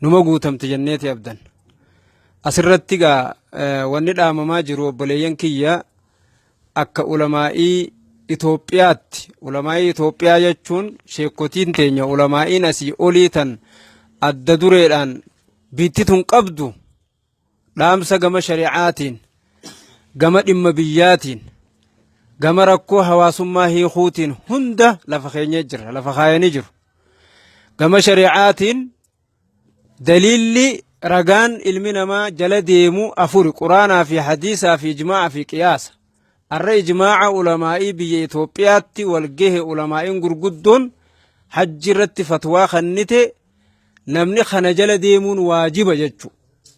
numa guutamti jenneeti abdan. Asirratti egaa wanni dhaamamaa jiru obboleeyyan kiyya akka ulamaa'ii Itoophiyaatti ulamaa'ii Itoophiyaa jechuun sheekotiin teenya ulamaa'iin asii olii tan adda dureedhaan biitti tun qabdu dhaamsa gama shari'aatiin gama dhimma biyyaatiin gama rakkoo hawaasummaa hiikuutiin hunda lafa keenyee jira lafa kaayanii jiru gama shari'aatiin daliilli ragaan ilmi namaa jala deemu afuri quraanaa fi hadiisaa fi ijmaa'aa fi qiyaasa arra ijmaa'a ulamaa'ii biyya Itoophiyaatti walgahe ulamaa'iin gurguddoon hajji irratti fatwaa kennite namni kana jala deemuun waajiba jechu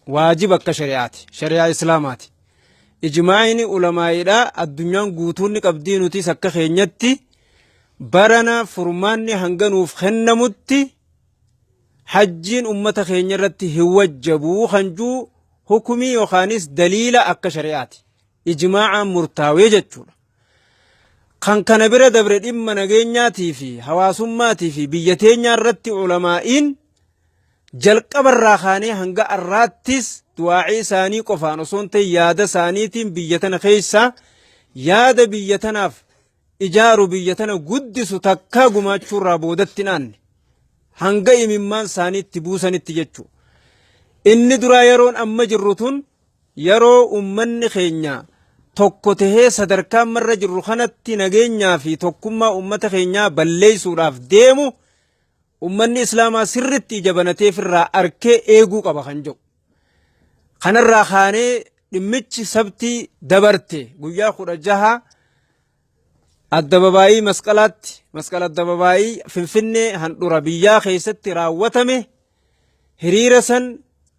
waajiba akka shari'aati shari'aa islaamaati ijmaa'ini ulamaa'idha addunyaan guutuun ni qabdii nutis akka keenyatti barana furmaanni hanga nuuf kennamutti hajjiin ummata keenya irratti hin wajjabuu kan juu hukumii yookaanis daliila akka shari'aati ijmaa'aan murtaawee jechuudha Kan kana bira dabre dhimma nageenyaatii fi hawaasummaatii fi biyya teenyaa irratti ulamaa'iin jalqaba irraa kaanee hanga arraattis du'aa'ii isaanii qofaan osoo hin ta'in yaada isaaniitiin biyya tana keessaa yaada biyya tanaaf ijaaru biyya tana guddisu takkaa gumaachuu irraa boodatti hin aanne hanga imimmaan isaaniitti buusanitti jechuudha. Inni duraa yeroon amma jirru tun Yeroo uummanni keenya tokko tahee sadarkaa amma irra jirru kanatti nageenyaa fi tokkummaa uummata keenyaa balleessuudhaaf deemu uummanni Islaamaa sirriitti ija banatee ofirraa arkee eeguu qaba kan jedhu. Kanarraa kaanee dhimmichi sabtii dabarte guyyaa kudha jaha Addababaayii Masqalaatti Masqal Addababaayii Finfinnee handhura biyyaa keessatti raawwatame hiriira san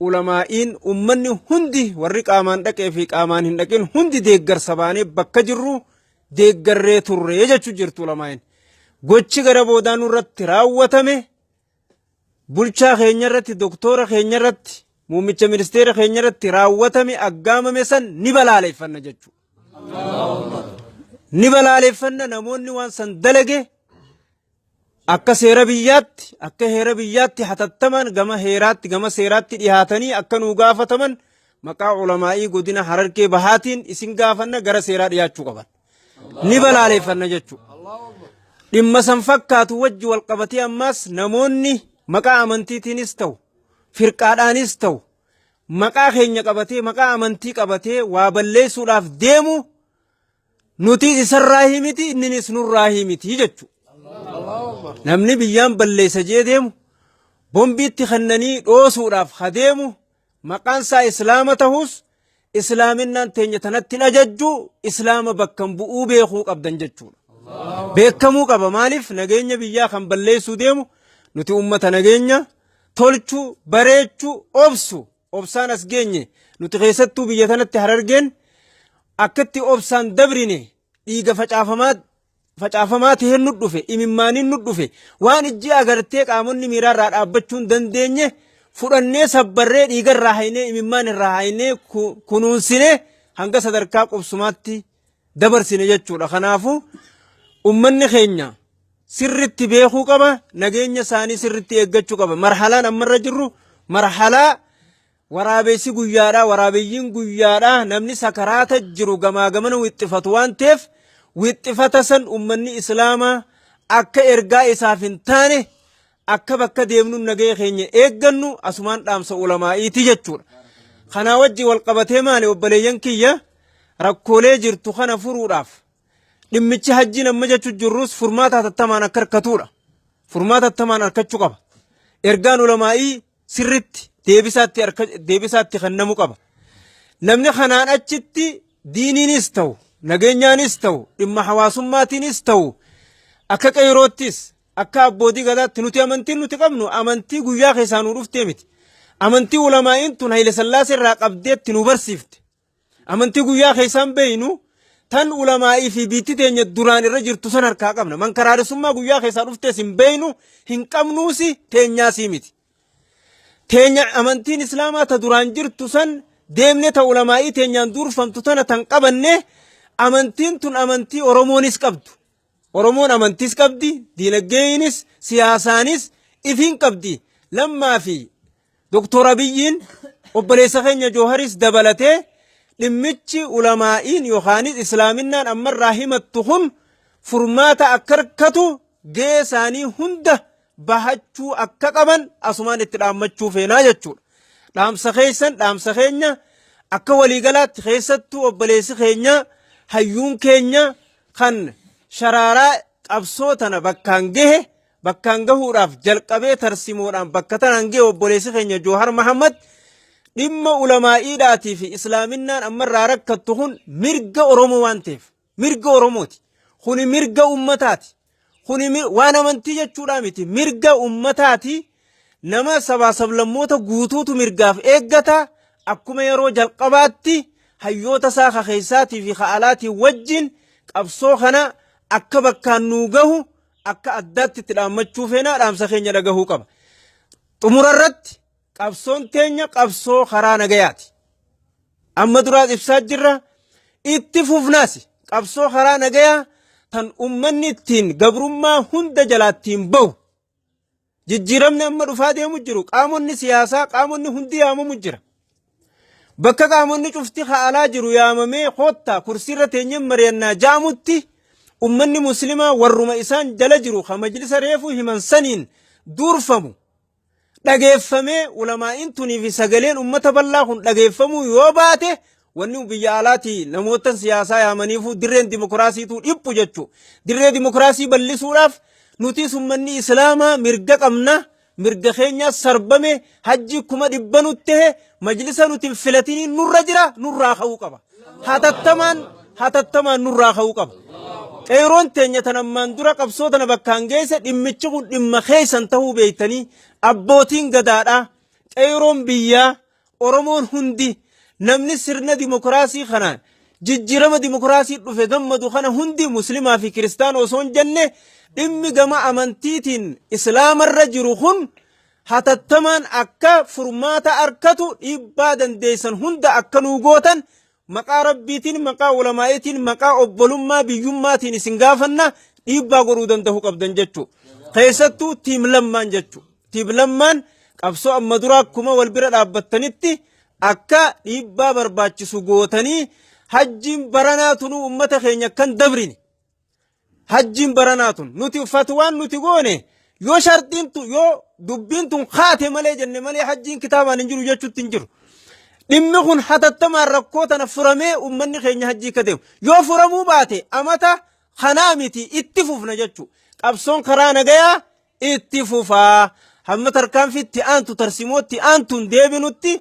ulamaa'iin ummanni hundi warri qaamaan dhaqee fi qaamaan hin dhaqin hundi deeggarsa baanee bakka jirru deeggarree turre jechuu jirtu ulamaa'iin. Gochi gara boodaa nurratti raawwatame bulchaa keenya irratti, doktoora keenya irratti, muummicha ministeera keenya irratti raawwatame aggaamame san ni balaaleffanna jechuudha. Ni balaaleffanna namoonni waan san dalage akka seera biyyaatti, akka heera biyyaatti hatattamaan gama heeraatti, gama seeraatti dhihaatanii akka nuu gaafataman maqaa ulamaa'ii godina harargee bahaatiin isin gaafanna gara seeraa dhiyaachuu qaban. ni balaaleeffanna jechuudha. Dhimma san fakkaatu wajji wal qabatee ammaas namoonni maqaa amantiitiinis ta'u firqaadhaanis ta'u maqaa keenya qabatee maqaa amantii qabatee waa balleessuudhaaf deemu nuti isarraa himiti inninis nurraa himiti jechuudha. Namni biyyaan balleessa jee deemu bombiitti kennanii dhoosuudhaaf ha deemu Maqaan isaa Islaama tahus Islaaminaan teenya tanatti hin ajajju Islaama bakkan bu'uu beekuu qabdan jechuudha. Beekamuu qaba maaliif nageenya biyyaa kan balleessuu deemu nuti uummata nageenya tolchuu bareechuu obsu obsaan as geenye nuti keessattuu biyya tanatti harargeen akkatti obsaan dabrine dhiiga facaafamaa facaafamaa ta'een nu dhufe, imimmaaniin nu dhufe, waan ijji agartee qaamonni miiraa irraa dhaabbachuu hin dandeenye fudhannee sabbarree dhiiga irraa haynee imimmaan irraa haynee ku- kunuunsine hanga sadarkaa qubsumaatti dabarsine jechuudha. Kanaafuu ummanni keenya sirritti beekuu qaba, nageenya isaanii sirritti eeggachuu qaba. Marhalaan ammarra jirru marhalaa Waraabessi guyyaadha, waraabeyyiin guyyaadha, namni sakaraata jiru gamaa gamana wixxifatu waan ta'eef wixxifata san ummanni Islaamaa akka ergaa isaaf hin taane akka bakka deemnuun nagaya keenya eeggannu asumaan dhaamsa ulamaa'iiti jechuudha. Kanaa wajji wal qabatee maali obboleeyyan kiyya rakkoolee jirtu kana furuudhaaf dhimmichi hajjiin amma jechu jirrus furmaata hatattamaan akka harkatuudha. Furmaata hatattamaan harkachuu qaba. Ergaan ulamaa'ii sirritti deebisaatti harka deebisaatti kennamu qaba. Namni kanaan achitti diiniinis ta'u nageenyaanis ta'u dhimma hawaasummaatiinis ta'u akka qeeroottis akka abbootii gadaatti nuti amantiin nuti qabnu amantii guyyaa keessaa nu dhuftee miti. Amantii ulamaa'iin tun Haile Sillaaseerraa qabdeetti nu barsiifte. Amantii guyyaa keessaan beeynu tan ulamaa'ii fi biitti teenya duraan irra jirtu san harkaa qabna. Mankaraaressummaa guyyaa keessaa dhuftees hin beeynu hin qabnuusi teenyaasii miti. Teenya amantiin islaamaa ta duraan jirtu san deemne ta ulamaa'ii teenyaan duurfamtu tana tan qabanne amantiin tun amantii Oromoonis qabdu. Oromoon amantiis qabdi, diinaggeeyiinis, siyaasaanis ifiin qabdi. Lammaa fi Doktor Abiyyiin obboleessa keenya Jooharis dabalatee dhimmichi ulamaa'iin yookaanis Islaaminnaan ammarraa himattu kun furmaata akka argatu gahee isaanii hunda bahachuu akka qaban asumaan itti dhaammachuu feenaa jechuudha. Dhaamsa keessan dhaamsa keenya akka waliigalaatti keessattuu obboleessi keenya hayyuun keenya kan sharaaraa qabsoo tana bakkaan gahe bakkaan gahuudhaaf jalqabee tarsimoodhaan bakka tanaan gahe obboleessi keenya Joohar Mahammad dhimma ulamaa'iidhaatii fi islaaminaan ammarraa rakkattu kun mirga Oromoo waan ta'eef Mirga Oromooti. Kuni mirga ummataati. Kuni mi- waan amantii jechuudhaa miti. Mirga ummataati. Nama sabaa sablammoota guutuutu mirgaaf eeggata. Akkuma yeroo jalqabaatti hayyoota isaa ka keessaatii fi ka alaatiin wajjin qabsoo kana akka bakkaan nuu gahu akka addaatti itti dhaammachuu feenaa dhaamsa keenya dhagahuu qaba. Xumura irratti Qabsoon teenya qabsoo karaa nagayaati. Amma duraas ibsaa jirra. Itti fufnaas qabsoo karaa nagayaa tan ummanni ittiin gabrummaa hunda jalaattiin bahu. Jijjiiramni amma dhufaa deemu jiru qaamonni siyaasaa qaamonni hundi yaamamu jira. Bakka qaamonni cufti haalaa jiru yaamamee koottaa kursiirra teenyeen mari'annaa jaamutti ummanni muslimaa warruma isaan jala jiru kan majlisa reefuu himan saniin duurfamu dhageeffamee ulamaa'iin tunii fi sagaleen ummata bal'aa kun dhageeffamuu yoo baate wanni biyya alaatii namoottan siyaasaa yaamaniifuu dirreen dimokiraasiituu dhiphu jechuu dirree dimokiraasii bal'isuudhaaf nutis ummanni islaamaa mirga qabna mirga keenyaa sarbame hajjii kuma dhibba nutti ta'e majlisa nuti hin filatiniin nurra jira nurraa ka'uu qaba. hatattamaan hatattamaan nurraa ka'uu qaba. Qeeroon teenya tan ammaan dura qabsoo tana bakkaan geesse dhimmichi kun dhimma keessan ta'uu beektanii abbootiin gadaadhaa qeeroon biyyaa Oromoon hundi namni sirna dimokiraasii kana jijjiirama dimokiraasii dhufe gammadu kana hundi muslimaa fi kiristaana osoo hin jenne dhimmi gama amantiitiin islaamarra jiru kun hatattamaan akka furmaata arkatu dhiibbaa dandeessan hunda akka nuu gootan maqaa rabbiitiin maqaa ulamaa'itiin maqaa obbolummaa biyyummaatiin isin gaafanna dhiibbaa godhuu danda'uu qabdan jechuu keessattuu tiim lammaan jechuu tiim lammaan qabsoo amma duraa akkuma wal bira dhaabbattanitti akka dhiibbaa barbaachisu gootanii hajjiin baranaa tunuu ummata keenya kan dabrine Hajjiin baranaa tun nuti fatwaan nuti goone yoo sharxiin tun yoo dubbiin tun kaate malee jenne malee hajjiin kitaabaan hin jiru jechuutti hin jiru. Dhimmi kun hatattamaan rakkoo tana furamee uummanni keenya hajjii akka deemu yoo furamuu baate amata kanaa miti itti fufna jechuu qabsoon karaa nagayaa itti fufaa hamma tarkaanfii itti aantu tarsimoo itti aantuun deebinutti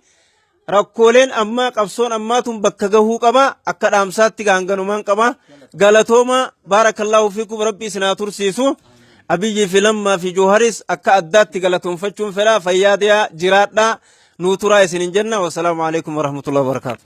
rakkooleen ammaa qabsoon ammaatuun bakka gahuu qaba akka dhaamsaatti gaanganumaan qaba galatoomaa baarakallaahu fiikum rabbi isin haa tursiisu abiyyii fi lammaa fi jooharis akka addaatti galatoonfachuun fedha fayyaa deemaa jiraadhaa nuu turaa isinin jenna wasalaamu alaikum warahmatullahi wabarakaatu